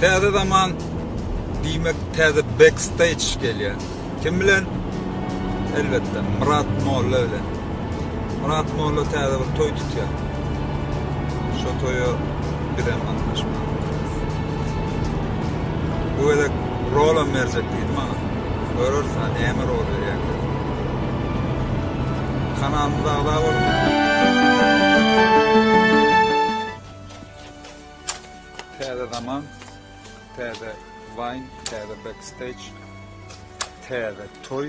Täze zaman diýmek täze backstage gelýär. Kim bilen? Elbetde Myrat Molla bilen. Murat molla täze bir toý tutýar. Şo toýa bizem gatnaşmalydyr. Bu gezek rolam berjek diýdi maňa. Görüris, näme rol berýär. Kanalymyza agza boluň. Täze zaman, täze wine, täze backstage, täze toy.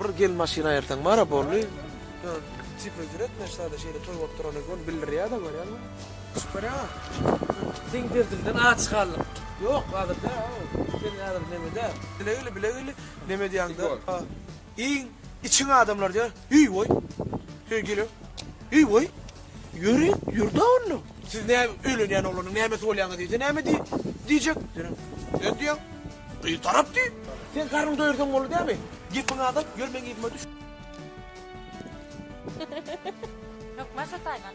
Bir gel maşyn aýyrsaň bara boldy. Tipe jüretme şada şeýle toý bolup durana göni bildirýär-de görýäňmi? Çypara. Seň derdiňden aç galdyk. Ýok, hazir dä, o. Sen häzir neme dä. Bile gel, bile gel. Neme diýýäňda? Iň içiň adamlar diýýär. Eý-weý, söýgülim, eý-weý, ýöri, ýür-de onda. Siz nä öýlenýän oglanyň nämesi bolýaňyz diýse näme diýjek? Sen diýýäň, gyz tarap diý. Sen garnyňy doýursaň boldy dämi? Gepiňi azalt, ýör meň yzyma düş. Hökman şo taýdan.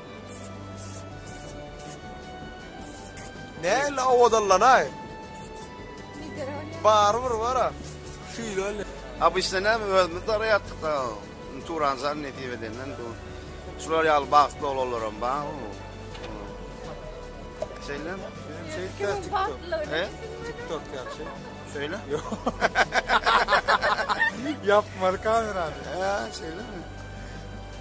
Näle awadallanaý? Barybir bar-a. Şeýle ol. Obysna näme özümiz daraýatdyk-da. Turan jan nesip edenden bu. Şular ýaly bagtly oglanlaram bar. Şeýle. Şeýle TikTok. He? TikTok ýagşy. Şeýle? Ýapmaly kamerany. He, şeýle.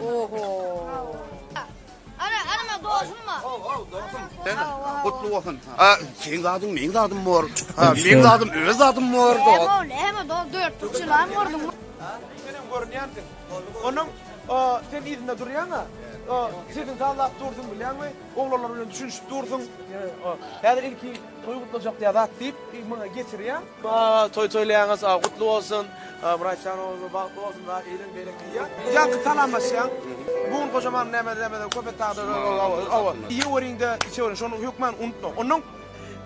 Oho. Ana, ana, dostum var. Ow, ow, dostum. Sen kutlu olsun. Ha, seň zadyn, meň zadym bor. Ha, meň zadym, öz zadym bor. Ow, näme, do, dört tutçulan gördüm. Sen hem görünýänsiň. Onuň sen yzynda durýaň-a. Sesiň sazlap dursun bilýäňmi? Oglanlar bilen düşünişip dursun. Häzir ilki toý gutlajak diýýär zat diýip, maňa getirýär. Baa toý toýlaýaňyz a gutly bolsun. Myratjan ogluň bagtly bolsun a iliň bereketi ýa. Ýaňky salamlaşýaň. Bu gün gojaman näme näme köp et dagda hawa. Iýeweriňde içeweriň şony hökman unutmaň. Onnoň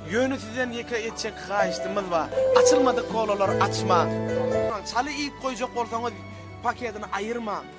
Ýöne sizden ýeke etjek haýyştymyz bar. Açylmadyk kolalar açmaň. Çaly iýip goýjak bolsaňyz paketini aýyrmaň.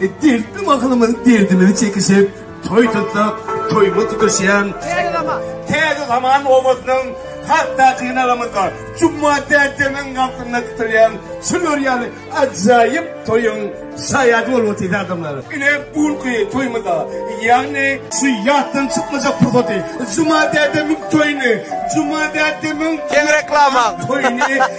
Dertli mahalymyz derdimizi çekişip, toý tutsak, toýumy tutuşýan Täze zaman obasynyň hatda gynagamyzda Juma dädemiň galkynynda tutulýan şular ýaly ajaýyp toýuň şaýady bolup otyrys adamlar. Ine bu günki toýumyzda, ýagny şu ýatdan çykmajak pursaty Juma dädemiň toýuny, Juma dädemiň Geň reklama. toýuny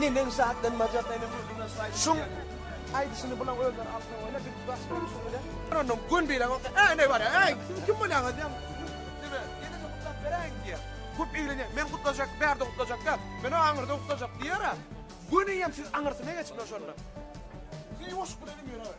Neneň şatlanmajak ene gözüne şaýt. Şuň aýdyşyny bulan özleri alsa bolýa biz baş goňşy bilen. Onam gün bilen bolsa äý näme bar äý siz kim bolýaňyz diýen. Dine ene de gutlap beräýiň diýer. Köp eglenýär men gutlajak bärde gutlajak däl menä aňyrda gutlajak diýerä. Göni hem siz aňyrsyna geçiň şonda. Sen ýuwaşlyk bilen hem ýöräber.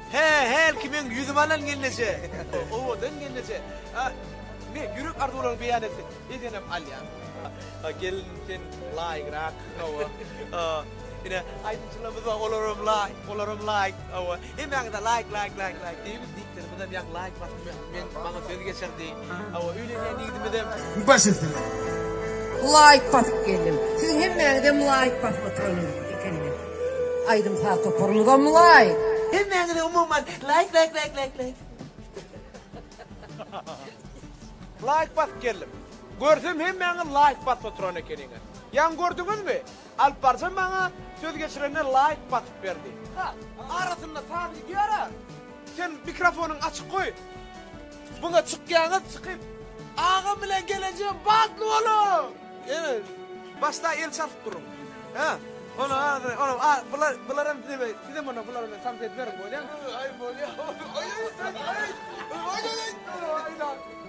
Hä, hälki meň ýüzümi alan gelneje. Owadan gelneje. A, ne, ýürek arzuwlaryňy beýan etsin. Ejenem alýar. A, gelin, sen laýygrak. Hawa. A, ine, aýdymçylarymyz bar, olar hem laýyk, olar hem laýyk. Hawa. Hemmäňiz-ä laýyk, laýyk, laýyk, laýyk diýiňiz, diýipdirimiz hem ýaňy laýyk basym ýok. Men maňa söz geçirdi. Awa öýlenýän ýigidimizem. Baş üstüne. Laýk basyp geldim. Siziň hemmäňizem laýk basyp oturan ekeniňiz. Aýdym saz toparymyzam laýk. Hemmäňize umuman laýk laýk laýk laýk laýk. Laýk basyp geldim. Görsem hemmäňiz laýk basyp oturan ekeniňiz. Ýaňy gördüňizmi? Alyp barja maňa söz geçirenler laýk basyp berdi. Ha arasynda saz gidýara. Sen mikrofonyňy açyk goý. Muňa çykýaňyz çykyp agam bilen gelejem bagtly boluň. Ýene başda el çalyp duruň. Hä. Ony azy ony a bular bularam size sizem onda bulara men samsyýet beriň bolýamy. Aý bolýa. Aý aý aý. Aý aý aý. Aý aý.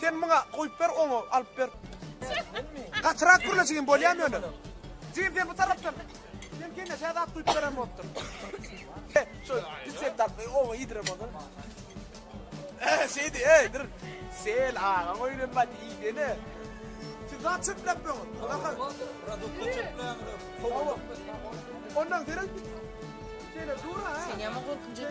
Sen muňa goýup ber oňa alyp ber. Gatyrak gürle jigim bolýamy ýöne? Jigim sen bu tarapdan. Sen kene şädat duýup beren bolupdyr. Şu sen tarapda oňa ýediren bolsun. Şeydi, ey, dur. Sen ağa oyunun bat iydene. Siz daha çöplep mi olun? Bakın. Produkta çöpleyen kovulun. Ondan senin şeyle dur ha. Sen yama korkunca.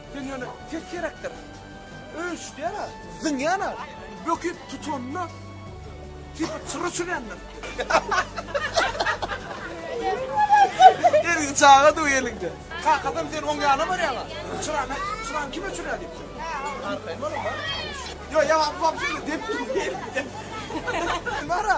Sen ýöne ses gerekdir. Öýüşýär-ä, zyňýan-a, böküp tutanda tipa çyra çülendir. Ergi çaga duw elinde. Kakasam sen oň ýana barýaňa. Çyrany, çyrany kime çüle diýipdir. Arkaýyn boluň-a. Ýo, ýa, bu wagşy depip dur. Bar-a.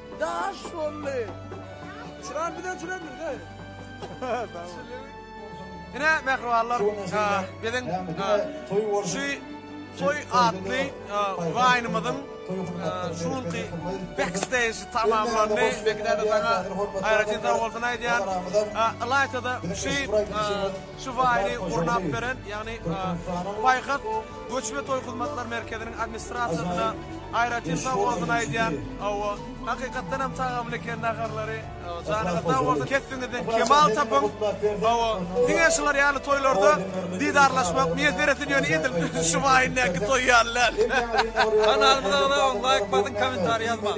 Daş bolly. Çyran bize çyran bize. Ine mehribanlar, biziň şu toy atly waýnymyzyň şu günki backstage tamamlandy. Bekiderdi saňa aýratyn sag bolsun aýdýan. Ylaýta-da şu Şu faýly gurnap beren, ýagny Paýhas göç we toý hyzmatlar merkeziniň administrasiýasyna aýratyn sag bolsun aýdýan. Hawa, hakykatdan hem tagamly eken naharlary. Janyňyz sag bolsun, kesbiňizden kemal tapyň. Hawa, diňe şular ýaly toýlarda didarlaşmak miýesser etsin, ýöne edil şu faýyndäki toý ýaly däl. Kanalyma agza boluň, laýk basyň, kommentariý ýazmaň.